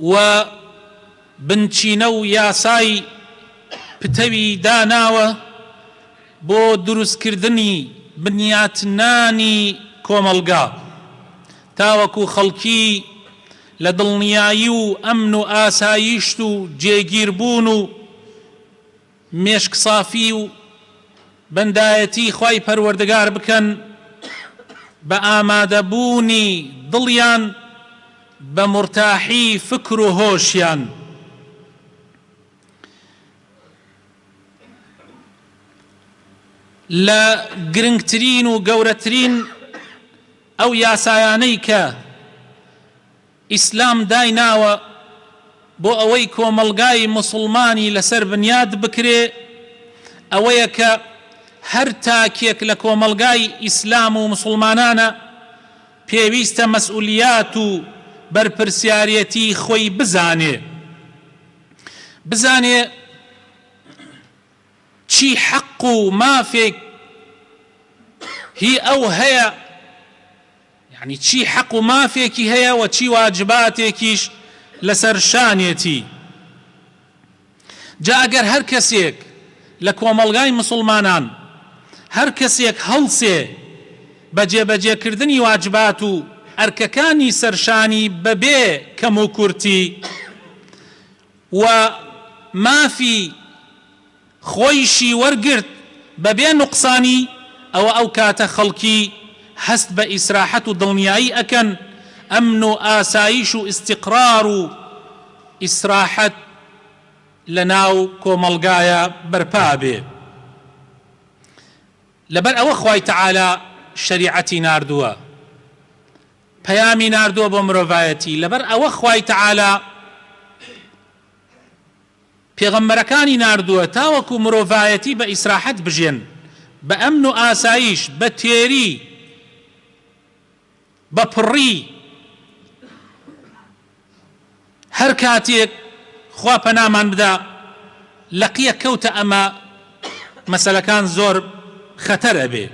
و بنچینە و یاسای پتەوی داناوە بۆ دروستکردنی بنیاتنانی کۆمەڵگا تاوەکو خەڵکی لە دڵنیایی و ئەمن و ئاسایشت و جێگیربوون و مێشک سافی و بەندایەتی خوای پەروەردگار بکەن بە ئامادە بوونی دڵیان بە مورتاحی فکر و هۆشیان. لە گرنگترین و گەورەترین ئەو یاسایانەی کە. ئیسلام دایناوە بۆ ئەوەی کۆمەڵگای موسڵمانی لەسەر بنیات بکرێ ئەوەیە کە هەر تاکێک لە کۆمەڵگای ئیسلام و موسڵمانانە پێویستە مەسئولیات و بەرپرسیارێتی خۆی بزانێ بزانێ چی حەق و مافێک هی ئەو هەیە یەعنی چی حەق و مافێکی هەیە و چی واجباتێکیش لەسەر شانێتی. جا ئەگەر هەر کەسێک لە کۆمەڵگای مسوڵمانان هەر کەسێک هەڵسێ بە جێبەجێکردنی واجبات و ئەرکەکانی سەر شانی بە بێ کەموکورتی و مافی خۆیشی وەرگرت بەبێ نوقسانی، ئەوە ئەو کاتە خەڵکی هەست بە ئیسراحەت و دڵنیایی ئەکەن، ئەمن و ئاسایش و ئیستیقرار و ئیسراحەت لەناو کۆمەڵگایا بەرپا ئەبێ. لەبەر ئەوە خوای تەعالا شەریعەتی ناردووە، پەیامی ناردووە بۆ مرۆڤایەتی، لەبەر ئەوە خوای تەعالا. پێغەمبەرەکانی ناردووە تاوەکو مرۆڤایەتی بە ئیسراحەت بژێن، بە ئەمن و ئاسایش، بە تێری، بە پڕی، هەر کاتێک خوا پەنامان بدا لە قیە کەوتە ئەمە مەسەلەکان زۆر خەتەر ئەبێ.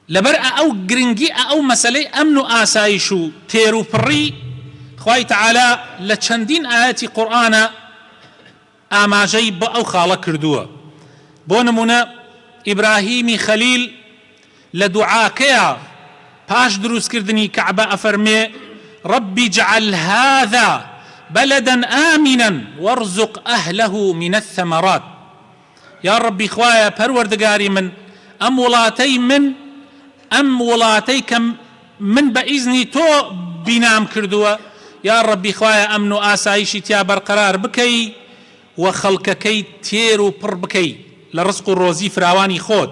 لەبەر ئە ئەو گرنگی ئە ئەو مەسەلەی ئەمن و ئاسایش و تێرو پڕی خوای تەعالا لە چەندین ئایەتی قورئانا ئاماژەی بە ئەو خاڵە کردووە بۆ نموونە ئیبراهیمی خەلیل لە دوعاکەیا پاش دروست کردنی کەعبە ئەفەرمێ رب اجعل هذا بلدا آمنا وارزق اهله من الثمرات یاڕەبی خوایە پەروەردگاری من ئەم وڵاتەی من ئەم وڵاتەی کە من بە ئیزنی تۆ بینام کردووە یاڕەبی خوایە ئەمن و ئاسایشی تیا بەرقەرار بکەی و خەڵکەکەی تێر و پڕ بکەی لە ڕزق و ڕۆزی فراوانی خۆت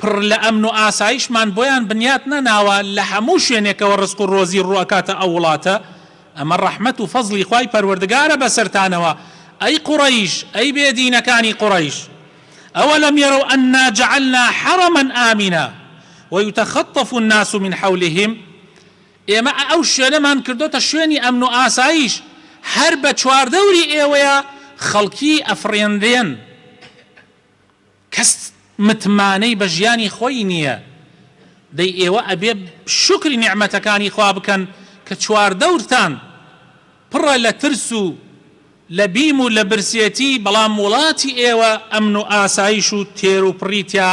پڕ لە ئەمن و ئاسایشمان بۆیان بنیات نەناوە، لە هەموو شوێنێکەوە ڕزق و ڕۆزی ڕوو ئەکاتە ئەو وڵاتە، ئەمە ڕەحمەت و فەزڵی خوای پەروەردگارە بەسەرتانەوە، ئەی قوڕەیش، ئەی بێ دینەکانی قوڕەیش، ئەوەلەم یەرەو ئەننا جەعەلنا حەڕەما ئامنا ویوتەخەتەف الناس من حولهم، ئێمە ئەو شوێنەمان کردۆتە شوێنی ئەمن و ئاسایش، هەر بە چواردەوری ئێوەیا خەڵکی ئەفڕێنرێن. کەس متمانەی بە ژیانی خۆی نیە دەی ئێوە ئەبێ شوکری نیعمەتەکانی خوا بکەن کە چواردەورتان پڕە لە ترس و لە بیم و لە برسێتی بەڵام وڵاتی ئێوە ئەمن و ئاسایش و تێروپڕی تیا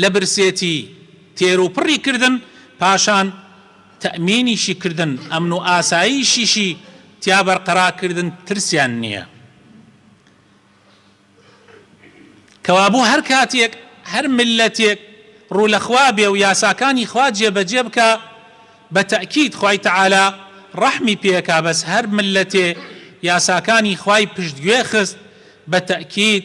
لە برسێتی تێروپڕی کردن، پاشان تەئمینیشی کردن، ئەمن و ئاسایشیشی تیا بەرقەرا کردن ترسیان نییە. کەوابوو هەر کاتێک هەر میللەتێک ڕوو لە خوا بێ و یاساکانی خوا جێ بە جێ بکا، بە تەئکید خوای تەعالا ڕەحمی پێ ئەکا، بەس هەر میللەتێ یاساکانی خوای پشت گوێ خست، بە تەئکید،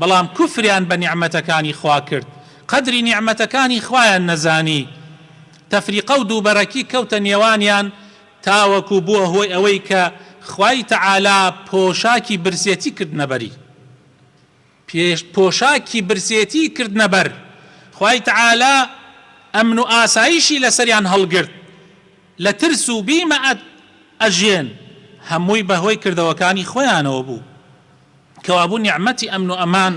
بەڵام کوفریان بە نیعمەتەکانی خوا کرد قەدری نیعمەتەکانی خوایان نەزانی تەفریقە و دووبەرەکی کەوتە نێوانیان تاوەکو بووە هۆی ئەوەی کە خوای تەعالا پۆشاکی برسێتی کردنە بەری پێش پۆشاکی برسێتی کردنە بەر خوای تەعالا ئەمن و ئاسایشی لەسەریان هەڵگرت لە ترس و بیم ئەژێن هەمووی بەهۆی کردەوەکانی خۆیانەوە بوو. کەوابوو نیعمەتی ئەمن و ئەمان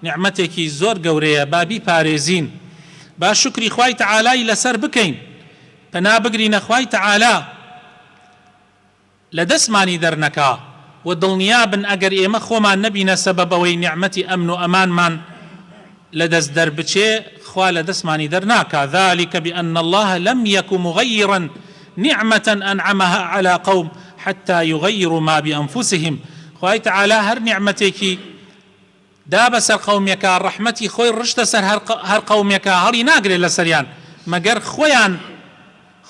نیعمەتێکی زۆر گەورەیە با بیپارێزین با شوکری خوای تەعالای لەسەر بکەین پەنا بگرینە خوای تەعالا لە دەستمانی دەرنەکا وە دڵنیابن ئەگەر ئێمە خۆمان نەبینە سەبەب ئەوەی نیعمەتی ئەمن و ئەمانمان لە دەست دەربچێ خوا لە دەستمانی دەرناکا ذلک بان اللە لم یک مغیرا نعمە انعمها علی قوم حتی یغیروا ما بانفسهم خوای تەعالا هەر نیعمەتێکی دا بەسەر قەومێکا ڕەحمەتی خۆی ڕشتە سەر هەر قەومێکا هەڵی ناگرێ لەسەریان مەگەر خۆیان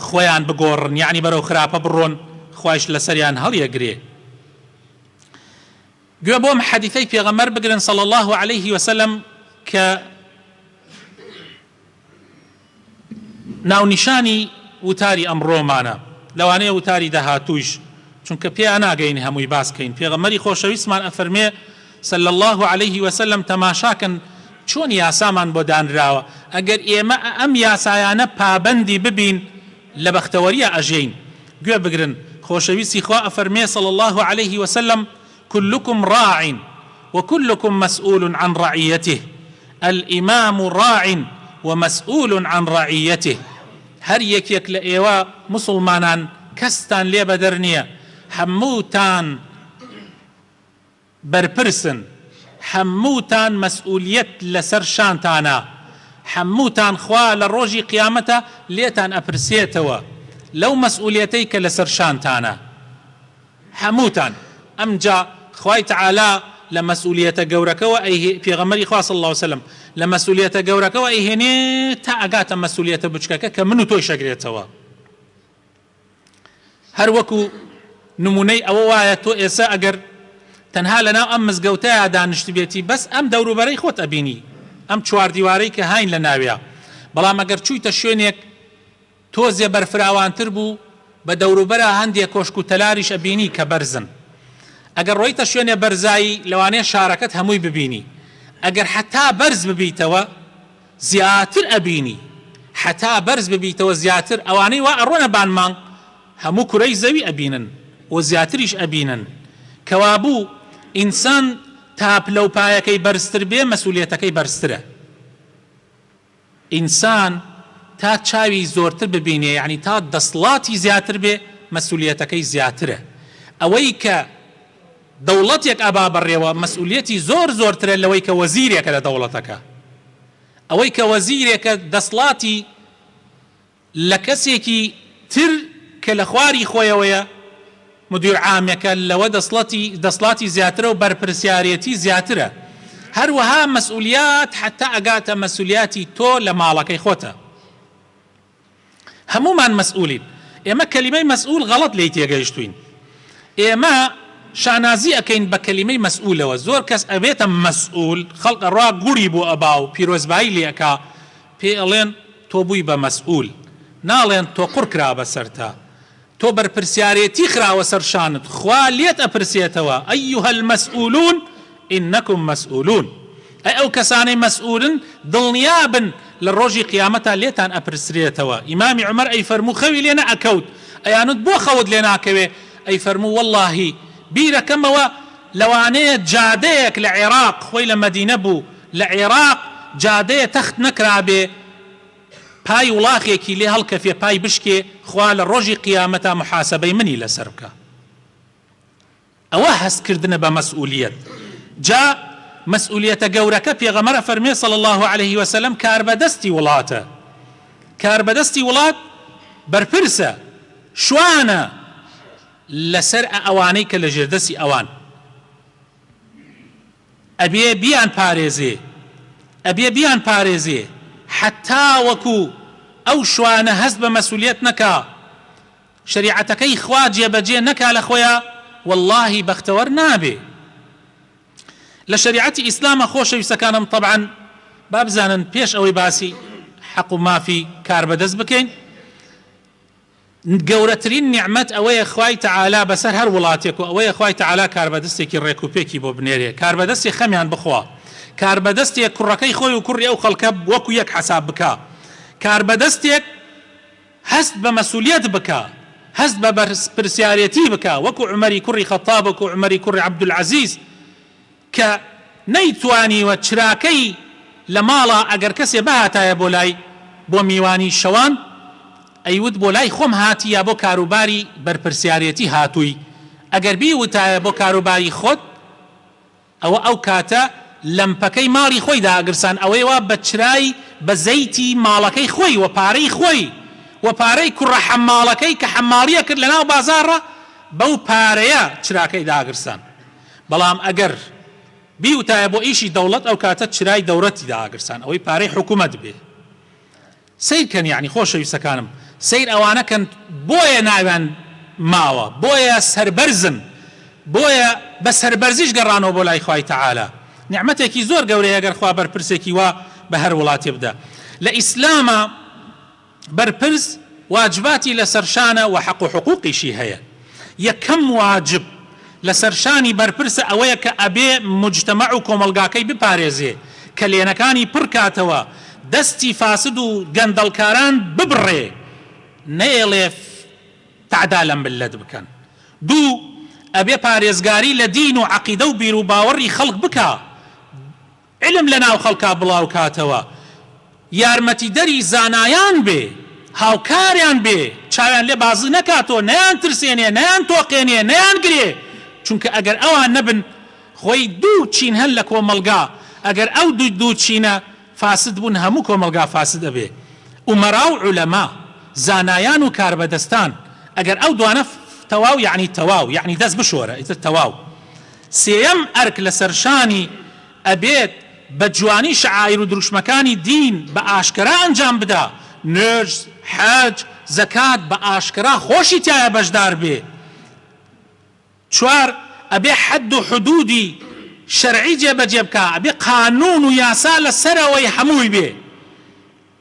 خۆیان بگۆڕن یەعنی بەرەو خراپە بڕۆن خوایش لەسەریان هەڵیەگرێ. گوێ بۆم حەدیثەی پێغەمبەر بگرن صلی اللە علیه وسلم کە ناونیشانی وتاری ئەمڕۆمانە لەوانەیە وتاری داهاتوویش چونکە پێیا ناگەین هەمووی باس کەین پێغەمبەری خۆشەویستمان ئەفەرمێ صلی اللە علیه وسلم تەماشاکەن چۆن یاسامان بۆ دانراوە ئەگەر ئێمە ئەم یاسایانە پابەندی ببین لە بەختەوەرییا ئەژێین گوێ بگرن خۆشەویستی خوا ئەفەرمێ صلی اللە علیە وسلم کلکم ڕاع و کلکم مسئول عن رعیته، الامام ڕاع و مسئول عن رعیته، هەر یەکێک لە ئێوە موسڵمانان کەستان لێ بەدەر نیە هەمووتان، بەرپرسن حەمووتان مەسئولیەت لەسەر شانتانە حەمووتان خوا لە ڕۆژی قیامەتە لێتان ئەپرسێتەوە لەو مەسئولیەتەی کە لەسەر شانتانە حەمووتان ئەمجا خوای تەعالا لە مەسئولیەتە گەورەکەوە ئەیه پێغەمبەری خوا صلی اللە علیە وسلم لە مەسئولیەتە گەورەکەوە ئەیهێنێ تا ئەگاتە مەسئولیەتە بچکەکە کە من و تۆیش ئەگرێتەوە. هەر وەکو نمونەی ئەوە وایە تۆ ئێسە ئەگەر تەنها لەناو ئەم مزگەوتەیا دانیشتبێتی بەس ئەم دەوروبەرەی خۆت ئەبینی ئەم چواردیوارەی کە هاین لەناویا بەڵام ئەگەر چویتە شوێنێک تۆزێ بەرفراوانتر بوو بە دەوروبەرا هەندێ کۆشک و تەلاریش ئەبینی کە بەرزن ئەگەر ڕۆیتە شوێنێ بەرزایی لەوانەیە شارەکەت هەمووی ببینی ئەگەر حەتا بەرز ببیتەوە زیاتر ئەبینی حەتا بەرز ببیتەوە زیاتر ئەوانەی وا ئەڕۆنە بان مانگ هەموو کورەی زەوی ئەبینن و زیاتریش ئەبینن کەوابوو ئینسان تا پلەو پایەکەی بەرزتر بێ مەسولیەتەکەی بەرزترە ئینسان تا چاوی زۆرتر ببینێ یەعنی تا دەسڵاتی زیاتر بێ مەسولیەتەکەی زیاترە ئەوەی کە دەوڵەتێک ئەبا بەڕێوە مەسئولیەتی زۆر زۆرترە لەوەی کە وەزیرێکە لە دەوڵەتەکە. ئەوەی کە وەزیرێکە دەسڵاتی لە کەسێکی تر کە لە خواری خۆیەوەیە مدیر عامەکە لەوە دەسڵەتی دەسڵاتی زیاترە و بەرپرسیارێتی زیاترە. هەروەها مەسئولیات حەتا ئەگاتە مەسولیاتی تۆ لە ماڵەکەی خۆتە. هەموومان مەسئولین ئێمە کەلیمەی مەسئول غەڵەت لێی تێگەیشتوین ئێمە شانازی ئەکەین بە کەلیمەی مەسئولەوە زۆر کەس ئەبێتە مەسئول خەڵک ئەڕوا گوڵی بۆ ئەبا و پیرۆزبایی لێ ئەکا پێی ئەڵێن تۆ بووی بە مەسئول ناڵێن تۆ قوڕ کرا بەسەرتا تۆ بەرپرسیارێتی خراوە سەر شانت خوا لێت ئەپرسێتەوە، ایها المسئولون انکم مسئولون، ئەی ئەو کەسانەی مسئولن دڵنیابن لە ڕۆژی قیامەتا لێتان ئەپرسرێتەوە، ئیمامی عومەر ئەیفەرموو خەوی لێ نەئەکەوت ئەیانوت بۆ خەوت لێ ناکەوێ ئەیفەرموو وەڵڵاهی بیرەکەمەوە لەوانەیە جادەیەک لە عێراق خۆی لە مەدینە بوو لە عێراق جادەیە تەخت نەکرابێ پای وڵاخێکی لێ هەڵکەفێ پای بشکێ خوا لە ڕۆژی قیامەتا محاسەبەی منی لەسەر بکا ئەوە هەست کردنە بە مەسئولیەت جا مەسئولیەتە گەورەکە پێغەمەر ئەفەرمێ صلی الله علیه وسلم کاربەدەستی وڵاتە کاربەدەستی وڵات بەرپرسە شوانە لەسەر ئەوانەی کە لە ژێردەسی ئەوان ئەبێ بیان پارێزێ ئەبێ بیان پارێزێ حەتا وەکو ئەو شوانە هەست بە مەسولیەت نەکا شەریعەتەکەی خوا جێ بەجێ نەکا لە خۆیا وەڵاهی بەختەوەر نابێ لە شەریعەتی ئیسلامە خۆشەویستەکانم طبعا با بزانن پێش ئەوەی باسی حەق و مافی کاربەدەست بکەین گەورەترین نیعمەت ئەوەیە خوای تەعالا بەسەر هەر وڵاتێک و ئەوەیە خوای تەعالا کاربەدستێکی ڕێک و پێکی بۆ بنێرێ کاربەدەستی خەمیان بخوا کاربەدەستێک کوڕەکەی خۆی و کوڕی ئەو خەڵکە وەکو یەک حەساب بکا کاربەدەستێک هەست بە مەسولیەت بکا هەست بە بەرپرسیارێتی بکا وەکو عومەری کوڕی خەتاب وەکو عومەری کوڕی عەبدولعەزیز کە نەیتوانیوە چراکەی لە ماڵە ئەگەر کەسێ بهاتایە بۆ لای بۆ میوانی شەوان ئەیوت بۆ لای خۆم هاتی یا بۆ کاروباری بەرپرسیارێتی هاتووی ئەگەر بیوتایە بۆ کاروباری خۆت ئەوە ئەو کاتە لەمپەکەی ماڵی خۆی دائەگرسان ئەوەی وا بە چرای بە زەیتی ماڵەکەی خۆی وە پارەی خۆی وە پارەی کوڕە حەماڵەکەی کە حەماڵی ئەکرد لە ناو بازاڕە بەو پارەیە چراکەی داگرسان بەڵام ئەگەر بیوتایە بۆ ئیشی دەوڵەت ئەوکاتە چرای دەوڕەتی داگرسان ئەوەی پارەی حکومەت بێ سەیر کەن یەعنی خۆشەویستەکانم سەیر ئەوانە کەن بۆیە ناویان ماوە بۆیە سەربەرزن بۆیە بە سەربەرزیش گەڕانەوە بۆ لای خوای تەعالا نیعمەتێکی زۆر گەورەیە گەر خوا بەرپرسێکی وا بە هەر وڵاتێ بدا لە ئیسلامە بەرپرس واجباتی لەسەر شانە وە حەق و حقوقیشی هەیە یەکەم واجب لەسەر شانی بەرپرسە ئەوەیە کە ئەبێ موجتەمع و کۆمەڵگاکەی بپارێزێ کەلێنەکانی پڕ کاتەوە دەستی فاسد و گەندەڵکاران ببڕێ نەیەڵێ تعدا لە ملت بکەن دوو ئەبێ پارێزگاری لە دین و عەقیدە و بیروباوەڕی خەڵک بکا علم لەناو خەڵکا بڵاوکاتەوە یارمەتیدەری زانایان بێ هاوکاریان بێ چاویان لێ بازی نەکاتەوە نەیان ترسێنێ نەیان تۆقێنێ نەیان گرێ چونکە ئەگەر ئەوان نەبن خۆی دوو چین هەن لە کۆمەڵگا ئەگەر ئەو دوو دوو چینە فاسد بوون هەموو کۆمەڵگا فاسد ئەبێ ئومەرا و علما زانایان و کاربەدەستان ئەگەر ئەو دوانە تەواو یەعنی تەواو یەعنی دەست بشۆرە ئیتر تەواو. سێیەم ئەرک لەسەر شانی ئەبێت بە جوانی شەعائیر و دروشمەکانی دین بە ئاشکەرا ئەنجام بدا، نوێژ، حەج، زەکات بە ئاشکەرا خۆشی تیایا بەشدار بێ. چوار ئەبێ حەد و حدوودی شەرعی جێبەجێ بکا، ئەبێ قانوون و یاسا لە سەرەوەی هەمووی بێ.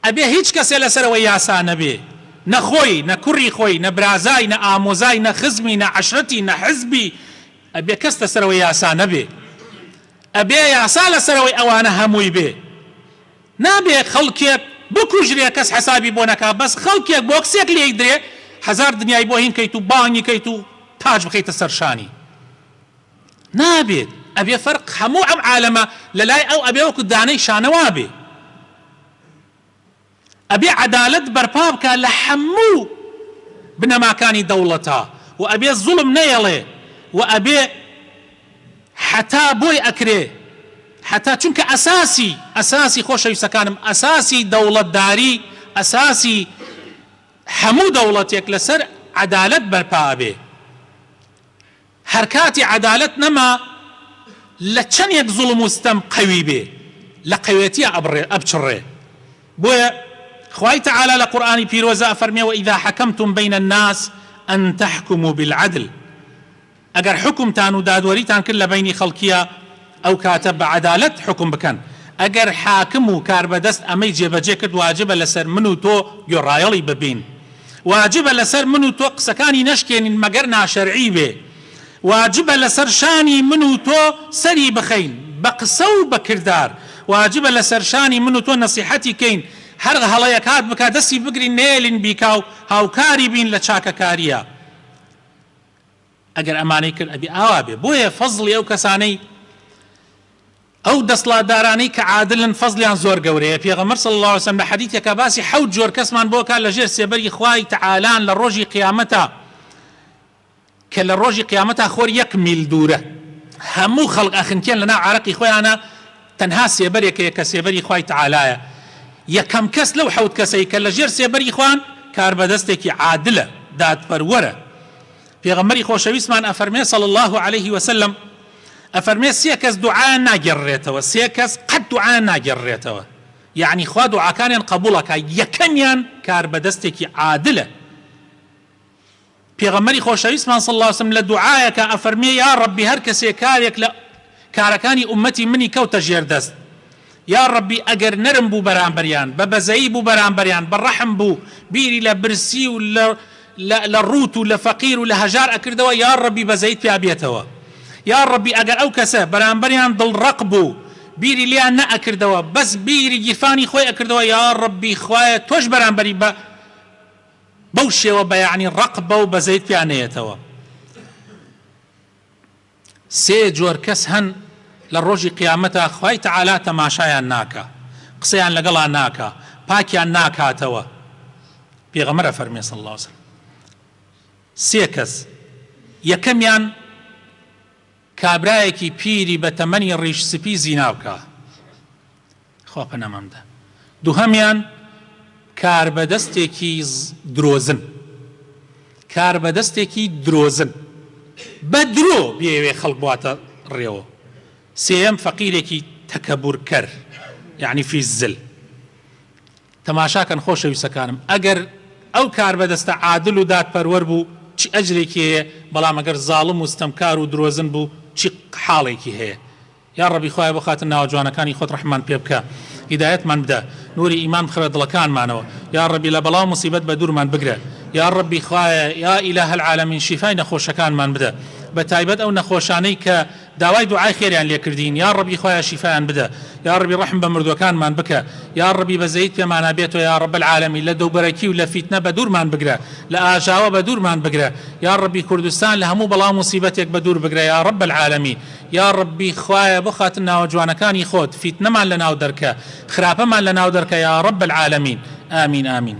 ئەبێ هیچ کەسێ لەسەرەوەی یاسا نەبێ، نە خۆی، نە کوڕی خۆی، نە برازای، نە ئامۆزای، نە خزمی، نە عەشرەتی، نە حزبی، ئەبێ کەس لەسەرەوەی یاسا نەبێ. ئەبێ یاسا لەسەرەوەی ئەوانە هەمووی بێ. نابێ خەڵکێک بکوژرێ کەس حەسابی بۆ نەکا، بەس خەڵکێک بۆکسێک لێی درێ هەزار دنیای بۆ هین کەیت و بانگی کەیت و تاج بخەیتە سەر شانی. نابێت ئەبێ فەرق هەموو ئەم عالەمە لەلای ئەو ئەبێ وەکو دانەی شانەوابێ ئەبێ عەدالەت بەرپا بکا لە هەموو بنەماکانی دەوڵەتا و ئەبێ زوڵم نەیەڵێ و ئەبێ حەتا بۆی ئەکرێ حەتا چونکە ئەساسی ئەساسی خۆشەویستەکانم ئەساسی دەوڵەتداری ئەساسی هەموو دەوڵەتێک لەسەر عەدالەت بەرپا ئەبێ هەرکاتی عەدالەت نەما لە چەنێک زوڵم و ستەم قەوی بێ لە قەوێتیا ئەبڕێ ئەبچڕێ بۆیە خوای تەعالا لە قورئانی پیرۆزە ئەفەرمێ وەئیزا حەکەمتوم بەین الناس ان تحکموا بالعدل ئەگەر حوکمتان و دادوەریتان کرد لە بەینی خەڵکیا ئەو کاتە بە عەدالەت حوکم بکەن. ئەگەر حاکم و کاربەدەست ئەمەی جێبەجێ کرد واجبە لەسەر من و تۆ گوێڕایەڵی ببین. واجبە لەسەر من و تۆ قسەکانی نەشکێنین مەگەر ناشەرعی بێ. واجبە لەسەر شانی من و تۆ سەری بخەین بە قسە و بە کردار. واجبە لەسەر شانی من و تۆ نەسیحەتی کەین هەر هەڵەیەک هات بکا دەستی بگرین نەیەلین بیکا و هاوکاری بین لە چاکەکارییە. ئەگەر ئەمانەی کرد ئەبێ ئاوا بێ بۆیە فەزڵی ئەو کەسانەی ئەو دەسڵاتدارانەی کە عادلن فەزڵیان زۆر گەورەیە پێغەمبەر صلی اللە علیە وسلم لە حەدیثێکا باسی حەوت جۆر کەسمان بۆ ئەکات لە ژێر سێبەری خوای تەعالان لە ڕۆژی قیامەتا کە لە ڕۆژی قیامەتا خۆر یەک میل دوورە هەموو خەڵق ئەخنکێن لەناو عارەقی خۆیانە تەنها سێبەرێکەیە کە سێبەری خوای تەعالایە یەکەم کەس لەو حەوت کەسەی کە لە ژێر سێبەری خوان کاربەدەستێکی عادلە دادپەروەرە پێغەمبەری خۆشەویستمان ئەفەرمێ صلی اللە علیه وسلم ئەفەرمێ سێ کەس دوعایان ناگێڕرێتەوە سێ کەس قەت دوعایان ناگێڕرێتەوە یعنی خوا دوعاکانیان قبوڵەکە یەکەمیان کاربەدەستێکی عادلە پێغەمبەری خۆشەویستمان صلی اللە علیه وسلم لە دوعایەکە ئەفەرمێ یا ربی هەر کەسێ کارێک لە کارەکانی ئومەتی منی کەوتە ژێر دەست یا ڕەبی ئەگەر نەرم بوو بەرامبەریان بە بەزەیی بوو بەرامبەریان بە ڕەحم بوو بیری لە برسی و لە لە لە ڕووت و لە فەقیر و لە هەژار ئەکردەوە یا ڕەبی بەزەیت پیا بێتەوە یا ڕەبی ئەگەر ئەو کەسە بەرامبەریان دڵ ڕەق بوو بیری لێیان نە ئەکردەوە بەس بیری گیرفانی خۆی ئەکردەوە یا ڕەبی خوایە تۆش بەرامبەری بە بەو شێوە بە یەعنی ڕەق بە و بەزەیت پیا نەیەتەوە. سێ جۆر کەس هەن لە ڕۆژی قیامەتا خوای تەعالا تەماشایان ناکا قسەیان لەگەڵا ناکا پاکیان ناکاتەوە پێغەمبەر ئەفەرمێ صلی اللە علیە وسلم سێ کەس یەکەمیان کابرایەکی پیری بە تەمەنی ڕیش سپی زینا بکا خوا پەنامان بدا. دوهەمیان کاربەدەستێکی درۆزن کاربەدەستێکی درۆزن بە درۆ بیەوێ خەڵک بواتە ڕێوە سێیەم فەقیرێکی تەکەبور کەر یەعنی فی الزل تەماشا کەن خۆشەویستەکانم ئەگەر ئەو کاربەدەستە عادل و دادپەروەر بوو چ ئەجرێکی هەیە بەڵام ئەگەر زاڵم و ستەمکار و درۆزن بوو چی حاڵێکی هەیە یاڕەبی خوایە بۆ خاتر ناوە جوانەکانی خۆت ڕەحممان پێ بکە هیدایەتمان بدە نوری ئیمان بخەرە دڵەکانمانەوە یاڕەبی لە بەڵاو موسیبەت بە دورمان بگرە یاڕەبی خوایە یا ئیلە العالمین شیفای نەخۆشەکانمان بدە بە تایبەت ئەو نەخۆشانەی کە داوای دوعای خێریان لێ کردین یاڕەبی خوایە شیفایان بدە یاڕەبی ڕەحم بە مردوەکانمان بکە یاڕەبی بەزەیت پێمانا بێتۆ یا رب العالمین لە دەوبەرەکی و لە فیتنە بە دورمان بگرە لە ئاژاوە بە دورمان بگرە یاڕەبی کوردستان لە هەموو بەڵاو موسیبەتێک بە دور بگرە یا رب العالمین یاڕەبی خوایە بۆ خاتر ناوە جوانەکانی خۆت فیتنەمان لەناو دەرکە خراپەمان لەناو دەرکە یاڕەب العالمین ئامین ئامین.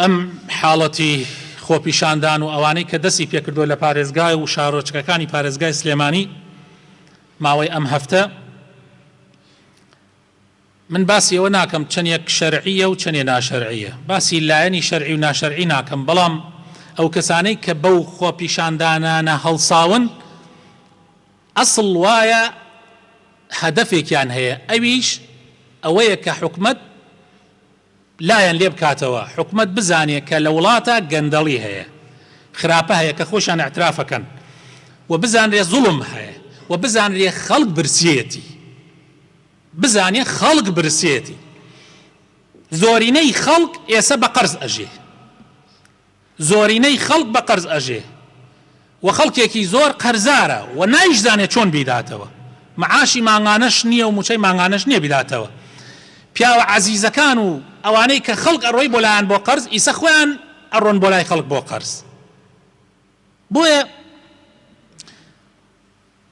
ئەم حاڵەتی خۆپیشاندان و ئەوانەی کە دەستی پێکردووە لە پارێزگا و شارۆچکەکانی پارێزگای سلێمانی ماوەی ئەم هەفتە من باسی ئەوە ناکەم چەندێک شەرعیە و چەندێ ناشەرعیە باسی لایەنی شەرعی و ناشەرعی ناکەم بەڵام ئەو کەسانەی کە بەو خۆپیشاندانانە هەڵساون ئەسڵ وایە هەدەفێکیان هەیە ئەویش ئەوەیە کە حکومت لایان لێ بکاتەوە حکومەت بزانێ کە لە وڵاتا گەندەڵی هەیە خراپە هەیە کە خۆشیان اعتراف ئەکەن و بزانرێ زوڵم هەیە و بزانرێ خەڵک برسیەتی بزانێ خەڵک برسیەتی زۆرینەی خەڵک ئێسە بە قەرز ئەژێ. زۆرینەی خەڵک بە قەرز ئەژێ و خەڵکێکی زۆر قەرزارە و نایشزانێ چۆن بیداتەوە معاشی مانگانەش نیە و موچەی مانگانەش نیە بیداتەوە پیاوە عەزیزەکان و ئەوانەی کە خەڵک ئەڕۆی بۆ لایان بۆ قەرز ئیسە خۆیان ئەڕۆن بۆ لای خەڵک بۆ قەرز بۆیە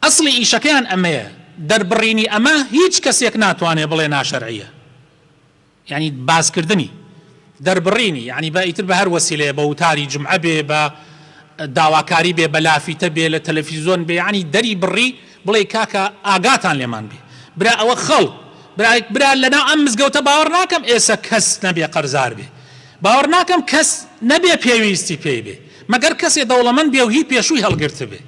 ئەسڵی ئیشەکەیان ئەمەیە دەربڕینی ئەمە هیچ کەسێک ناتوانێ بڵێ ناشەرعیە یانی باسکردنی دەربڕینی یانی بە ئیتر بە هەر وەسیلەیە بە وتاری جومعە بێ بە داواکاری بێ بە لافیتە بێ لە تەلەفیزۆن بێ یانی دەری بڕی بڵێ کاکە ئاگاتان لێمان بێ برا ئەوە خەڵ برا برا لەناو ئەم مزگەوتە باوەڕ ناکەم ئێسە کەس نەبێ قەرزار بێ باوەڕ ناکەم کەس نەبێ پێویستی پێی بێ مەگەر کەسێ دەوڵەمەند بێ و هی پێشووی هەڵگرتبێ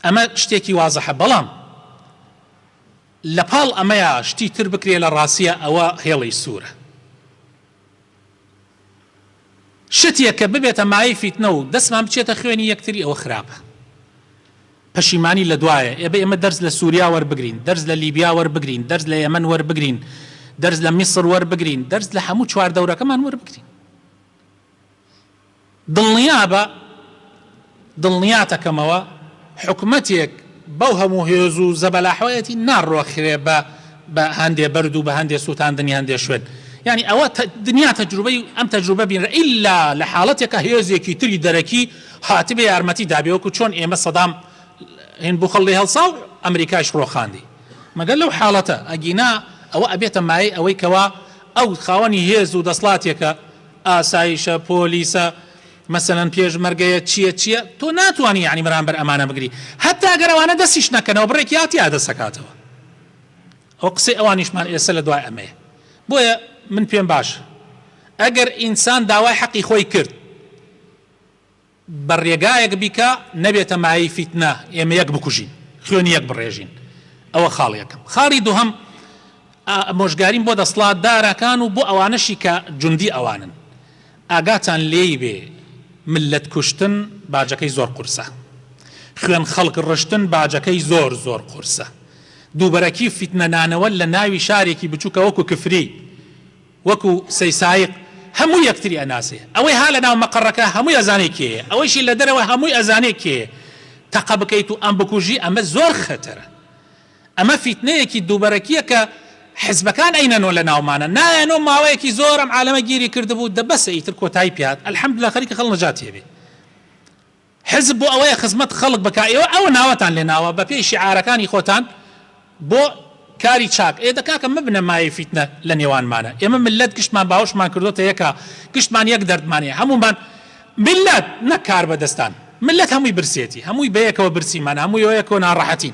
ئەمە شتێکی وازحە بەڵام لە پاڵ ئەمەیا شتی تر بکرێ لە ڕاستیە ئەوە هێڵی سوورە شتێک کە ببێتە مایەی فیتنە و دەستمان بچێتە خوێنی یەکتری ئەوە خراپە پەشیمانی لە دوایە ئێ بە ئێمە دەرس لە سووریا وەربگرین دەرس لە لیبیا وەربگرین دەرس لە یەمەن وەربگرین دەرس لە میسر وەربگرین دەرس لە هەموو چواردەورەکەمان وەربگرین دڵنیابە دڵنیاتەکەمەوە حکومەتێک بەو هەموو هێزو زەبەلاحەیەتی ناڕۆخرێ بە بە هەندێ بەرد و بە هەندێ سوتاندنی هەندێ شوێن یانی ئەوە دنیا تەجروبەی ئەم تەجروبە بینرا ئیلا لە حاڵەتێکا هێزێکی تری دەرەکی هاتبێ یارمەتی دابێ وەکو چۆن ئێمە سەدام هین بوخەڵ لێ هەڵسا و ئەمریکایش ڕۆخاندی مەگەر لەو حاڵەتە ئەگینا ئەوە ئەبێتە مایەی ئەوەی کەوا ئەو خاوەنی هێزو دەسڵاتێکە ئاسایشە پۆلیسە مەسەلەن پێشمەرگەیە چیە چیە تۆ ناتوانی یەعنی بەرامبەر ئەمانە بگری هەتا ئەگەر ئەوانە دەستیش نەکەنەوە بڕێک یا تیا دەست ئەکاتەوە ئەو قسەی ئەوانیشمان ئێسە لە دوای ئەمەیە بۆیە من پێم باش ئەگەر ئینسان داوای حەقی خۆی کرد بە ڕێگایەک بیکا نەبێتە مایەی فیتنە ئێمە یەک بکوژین خوێنی یەک بڕێژین ئەوە خاڵی یەکەم خاڵی دووهەم ئامۆژگاریم بۆ دەسڵات دارەکان و بۆ ئەوانەشی کە جوندی ئەوانن ئاگاتان لێی بێ ملت کوشتن باجەکەی زۆر قورسە خوێن خەڵک ڕشتن باجەکەی زۆر زۆر قورسە دووبەرەکی فیتنە نانەوە لە ناوی شارێکی بچووکە وەکو کفری وەکو سەی سایق هەموو یەکتری ئەناسێ ئەوەی ها لەناو مەقەڕەکە هەمووی ئەزانێ کێیە ئەوەیشی لەدەرەوە هەمووی ئەزانێ کێیە تەقە بکەیت و ئەم بکوژی ئەمە زۆر خەتەرە ئەمە فیتنەیەکی دووبەرەکیە کە حزبەکان ئەینەنۆ لەناومانە نایەنۆ ماوەیەکی زۆر ئەم عالەمە گیری کردبوو دە بەسە ئیتر کۆتایی پێهات الحمدللە خەریکە خەڵ نەجاتی ئەبێ. حزب بۆ ئەوەیە خزمەت خەڵک بکا ئێوە ئەوە ناوەتان لێ ناوە بە پێی شیعارەکانی خۆتان بۆ کاری چاک ئێ دە کاکە مەبنە مایەی فیتنە لە نێوانمانا ئێمە مللەت گشتمان باوەشمان کردۆتە یەکا گشتمان یەک دەردمان هەیە هەموومان مللەت نەک کاربەدەستان مللەت هەمووی برسێتی هەمووی بەیەکەوە برسیمانە هەمووی وەیەکەوە ناڕەحەتین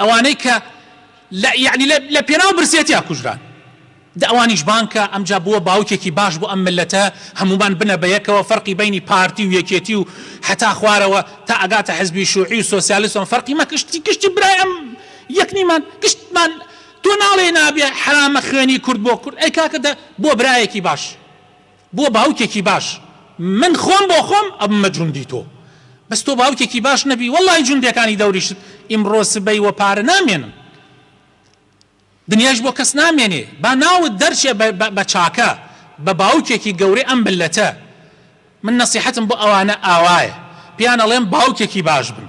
ئەوانەی کە لە یەعنی لە لە پێناو برسێتیا کوژران دە ئەوانیش بانکە ئەمجا بووە باوکێکی باش بۆ ئەم ملەتە هەموومان بنە بە یەکەوە فەرقی بەینی پارتی و یەکێتی و حەتا خوارەوە تا ئەگاتە حزبی شوعی و سۆسیالست و فەرقی مە کشتی کشتی برای ئەم یەک نیمان کشتمان تۆ ناڵێی نابێ حەرامە خوێنی کورد بۆ کورد ئەی کاکە دە بۆ برایەکی باش بۆ باوکێکی باش من خۆم بۆ خۆم ئەبمە جوندی تۆ بەس تۆ باوکێکی باش نەبی وەڵاهی جوندێکانی دەوریشت ئیمڕۆ سبەی وە پارە نامێنن دنیایش بۆ کەس نامێنێ با ناوت دەرچێ بە چاکە بە باوکێکی گەورەی ئەم ملەتە من نەسیحەتم بۆ ئەوانە ئاوایە پێیان ئەڵێم باوکێکی باش بن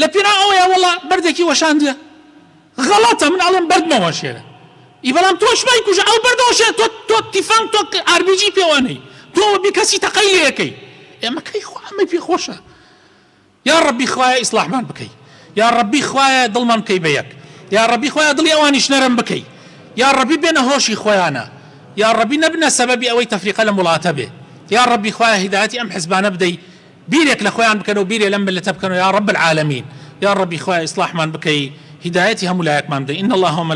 لە پێناو ئەوەیا وەڵا بەردێکی وەشاندیە غەڵەتە من ئەڵێم بەرد مەوەشێنە ی بەڵام تۆش مەیکوژە ئەو بەردە وەشێنە تۆ تۆ تیفەنگ تۆ ئاربیجی پێوە نەی تۆ وەبی کەسی تەقەی لێکەی ئێمە کەی خۆ ئەمەی پێ خۆشە یا ڕەبی خوایە ئیسڵاحمان بکەی یا ڕەبی خوایە دڵمان بکەی بە یەک یا ڕەبی خوایە دڵی ئەوانیش نەرم بکەی یا ڕەبی بێنە هۆشی خۆیانە یا ڕەبی نەبنە سەبەبی ئەوەی تەفریقە لەم وڵاتە بێ یا ڕەبی خوایە هیدایەتی ئەم حزبانە بدەی بیرێک لە خۆیان بکەن و بیرێ لەم میللەتە بکەن و یا رب العالمین یا ربی خوایە ئیسڵاحمان بکەی هیدایەتی هەموو لایەکمان بدەی ان اللە و.